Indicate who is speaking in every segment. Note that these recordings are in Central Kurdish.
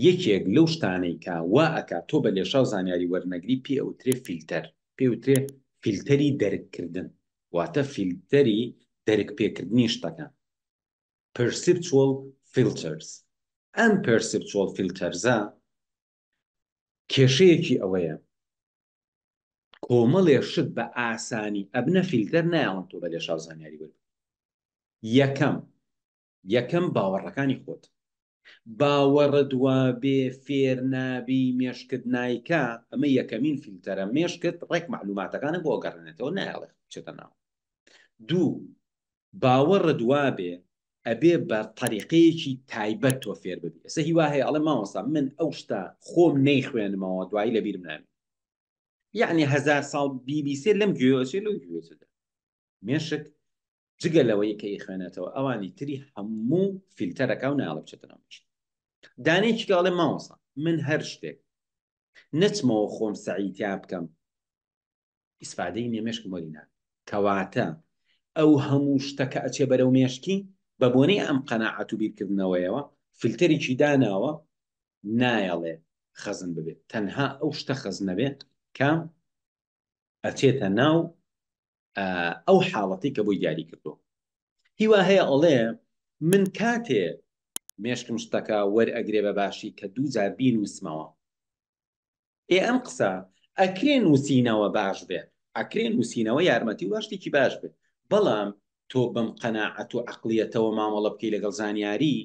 Speaker 1: یەکێک لەو شتانەی کە وا ئەکا تۆ بە لێشاو زانیاری وەرنەگری پێی ئەوترێ فیلتەر، پێی ئەوترێ فیلتەری دەرک کردن، واتە فیلتەری دەرک پێ کردنی شتەکان، Perceptual Filters، ئەم Perceptual Filters ە کێشەیەکی ئەوەیە کۆمەڵێ شت بە ئاسانی ئەبنە فیلتەر نایەڵن تۆ بە لێشاو زانیاری وەربگری، یەکەم یەکەم، باوەڕەکانی خۆت. باوەڕت وابێ فێر نابی، مێشکت نایکا، ئەمە یەکەمین فیلتەرە، مێشکت ڕێک مەعلوماتەکانت بۆ ئەگەڕێنێتەوە، نایەڵێ بچێتە ناو. دوو، باوەڕت وابێ ئەبێ بە تەریقەیەکی تایبەت تۆ فێر ببی. ئێستا هیوا هەیە ئەڵێ مامۆستا من ئەو شتە خۆم نەیخوێنمەوە دوایی لەبیرم نامێ. یعنی هزار ساڵ بیبیسێ لەم گوێوەچێ لەو گوێچدا مێشک جگە لەوەی کە خوێنێتەوە ئەوانی تری هەموو فیلتەرەکە و ناڵە بچێتەوە مێشک دانێکی کاڵێ ماوەسا من هەر شتێک نەچمەوە خۆم سەعیتیا بکەم ئیسفادەی نێمێشکم وەرینا کەواتە ئەو هەموو شتەکە ئەچێ بەرەو مێشکی بە بۆنەی ئەم قەنەعەت و بیرکردنەوەیەوە فلتەرێکی داناوە نایەڵێ خەزن ببێت تەنها ئەو شتە خەزنەبێت کە ئەچێتە ناو ئەو حاڵەتی کە بۆی دیاری کردو هیوا هەیە ئەڵێ من کاتێ مێشکم شتەکە وەرئەگرێ بە باشی کە دوو جار بین وسمەوە ئێ ئەم قسە ئەکرێ نووسینەوە باش بێت ئەکرێ نووسینەوە یارمەتی و شتێکی باش بێت بەڵام تۆ بەم قەنەعەت و عقلیەتەوە مامەڵە بکەی لەگەڵ زانیاری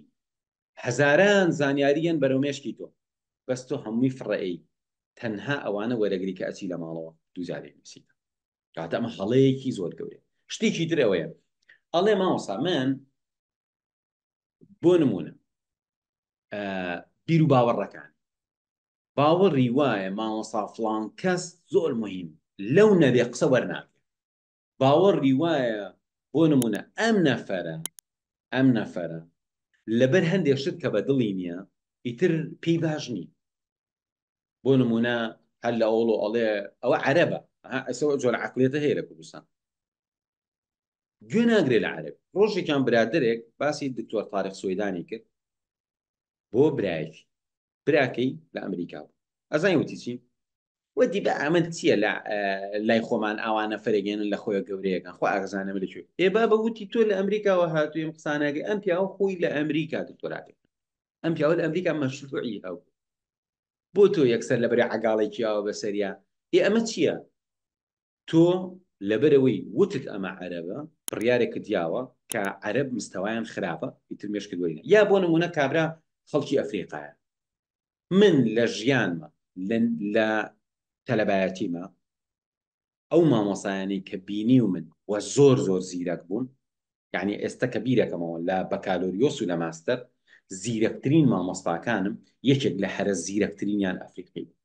Speaker 1: هەزاران زانیاری یەن بەرەو مێشکی تۆ بەس تۆ هەمووی فڕە ئەی تەنها ئەوانە وەرەگری کە ئەچی لە ماڵەوە دوو جارێک نووسیت کاتە ئەمە هەڵەیەکی زۆر گەورەیە شتێکی تر ئەوەیە ئەڵێ مامۆسا من بۆ نمونە بیر و باوەڕەکان باوەڕی وایە مامۆسا فڵان کەس زۆر مهم لەو نەبێ قسە وەرناگرێ باوەڕی وایە بۆ نموونە ئەم نەفەرە ئەم نەفەرە لەبەر هەندێ شت کە بە دڵی نییە ئیتر پێی باش نی بۆ نموونە هەر لە ئەوڵۆ ئەڵێ ئەوە عەرەبە ئەسەوە جۆر عقلێتە هەیە لە کوردستان گوێ ناگرێ لە عرب ڕۆژێکیان برادێک باسی دکتۆر تاارخ سویدانی کرد بۆ برایەتی براکەی لە ئەمریکا بوو ئەزای وتی چی ودی بە ئەمە چییە لە لای خۆمان ئاوانە فەرگێنن لە خۆی گەورەیەەکان خۆ ئاغزانە لە کوێ ئێ با بە وتی تۆ لە ئەمریکاوە هاتوویم قسانەکەی ئەم پیاوە خۆی لە ئەمریکا دکتۆراکەی ئەم پیاوە لە ئەمریکا مەشروعی هەو بۆ تۆ یەکسەر لە بەرە عگاڵێکیەوە بەسەریا ئێ ئەمە چییە تۆ لەبەرئەوەی وتت ئەمە عەرەبە بڕیارێکت یاوە کە عەرەب مستەوایان خراپە ئیتر مێشکت وەری نە یا بۆ نموونە کابرا خەڵکی ئەفریقایە من لە ژیانمە لە تەلەبایەتیمە ئەو مامۆسایانی کە بینی و من وە زۆر زۆر زیرەک بوون یعنی ئێستا کە بیرەکەمەوە لە بەکالۆریۆس و لە ماستەر زیرەکترین مامۆستاکانم یەکێک لە هەرە زیرەکترینیان ئەفریقی بوو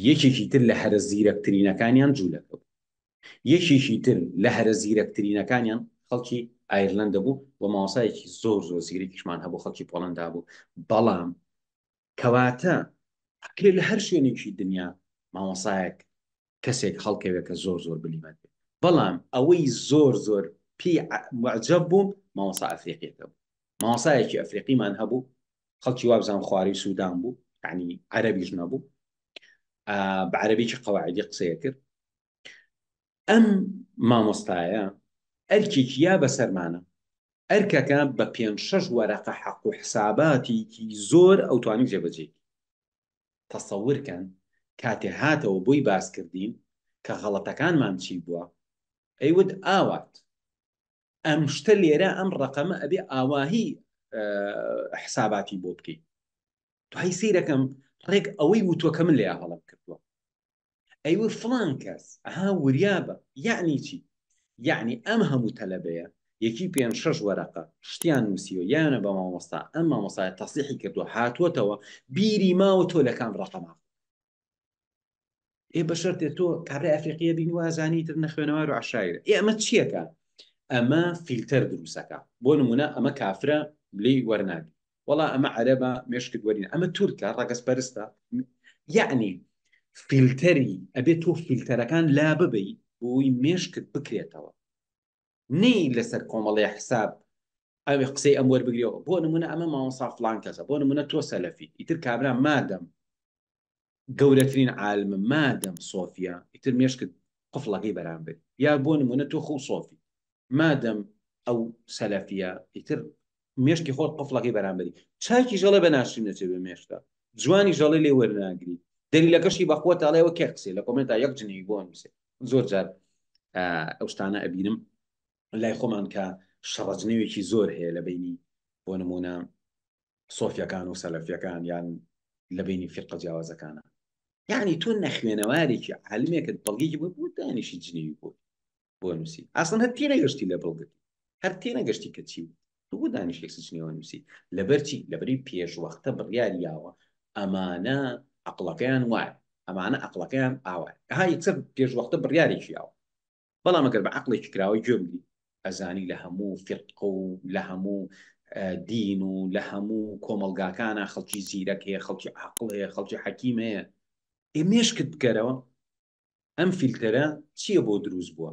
Speaker 1: یەکێکی تر لە هەرە زیرەکترینەکانیان جوولەکە بوو یەکێکی تر لە هەرە زیرەکترینەکانیان خەڵکی ئایرلندە بوو و ماوەسایەکی زۆر زۆر زیرەکیشمان هەبوو خەڵکی پۆڵندا بوو بەڵام کەواتە ئەکرێ لە هەر شوێنێکی دنیا مامۆسایەک کەسێک هەڵکەوێ کە زۆر زۆر بلیمەت بێ بەڵام ئەوەی زۆر زۆر پێی معجەب بووم مامۆسا ئەفریقیەکە بوو مامۆسایەکی ئەفریقیمان هەبوو خەڵکی وابزان خوارەی سوودان بوو عنی عەرەبیش نەبوو بە عەرەبیی قەواعدی قسەیە کرد ئەم مامۆستایە ئەرکێکی یا بەسەرمانە ئەرکەکە بە پێ شەش وەرەقە حەق و حساباتێکی زۆر ئەوتوانی جێبەجێ تەسەور کەن کاتێ هاتەوە بۆی باس کردین کە غەڵەتەکانمان چی بووە ئەی وت ئاوات ئەم شتە لێرە ئەم ڕقەمە ئەبێ ئاواهی حساباتی بۆ بکەیت دوای سیرەکەم ڕێک ئەوەی وتوەکە من لێ هەڵم کردووە ئەی وە فڵان کەس ئەها وریابە یەعنی چی یەعنی ئەم هەموو تەلەبەیە یەکی پێنج شەش وەرەقە شتیان نووسیوە یانە بە مامۆستا ئەم مامۆسای تەسیحی کردووە هاتووەتەوە بیری ماوە تۆ لە کام ڕەقەما ئێ بەشەرتێ تۆ کابرای ئەفریقیە بین وازانی تر نەخوێنەوار و عشایر ئێ ئەمە چیەکە ئەمە فیلتەر دروستەکە بۆ نمونە ئەمە کافرە لی وەرناگری وەڵا ئەمە عەرەبە مێشکت وەرینە ئەمە تورکە ڕەگەز پەرستە یعنی فیلتەری ئەبێت تۆ فیلتەرەکان لا ببی بۆی مێشکت بکرێتەوە نی لەسەر کۆمەڵی حساب ئەوێ قسەی ئەم وەربگرەوە بۆ نمونە ئەمە ماوەسا فلان کەسە بۆ نمونە تۆ سەلەفی ئیتر کابرا مادەم گەورەترین عالمە مادەم سۆفیە ئیتر مێشکت قفڵەکەی بەرامبەری یا بۆ نمونە تۆ خۆ سۆفی مادەم ئەو سەلەفیە ئیتر مێشکی خۆت قفڵەکەی بەرامبەری چاکی ژەڵە بە ناشرین نەچێت بە مێشتا جوانی ژەڵی لێ وەرناگری دەلیلەکەشی بەخوە تاڵێەوە کێ قسێ لە کۆمنتا یەک جنی بۆ نووسێ زۆر جار ئەو شتانە ئەبینم لای خۆمان کە شەڕەجنەوێکی زۆر هەیە لە بینی بۆ نمونە سۆفیەکان و سەلەفیەکان یان لە بینی فرقە جیاوازەکانە یعنی تۆ نەخوێنەوارێکی عالمێکت بەڵگێکی بۆ بوو دانیشی جنێوی بۆ بۆ نووسی ئاسن هەر تێ نەگەشتی لە بڵگت هەر تێ نەگەشتی کە چی بوو بۆ دانیشێک سچنێوە نووسی لەبەرچی لەبری پێشوەختە بڕیار یاوە ئەمانە عقلەکەیان وایە ئەمانە عقلەکەیان ئاوایە ها یەکسەر پێشوەختە بڕیارێکی یاوە بەڵام ئەگەر بە عقلێکی کراوەی گوێ بگری ئەزانی لە هەموو فرقە و لە هەموو دین و لە هەموو کۆمەلگاکانە خەڵکی زیرەک هەیە خەڵکی عقل هەیە خەڵکی حەکیم هەیە ئێ مێشکت بکەرەوە ئەم فیلتەرە چییە بۆ دروست بووە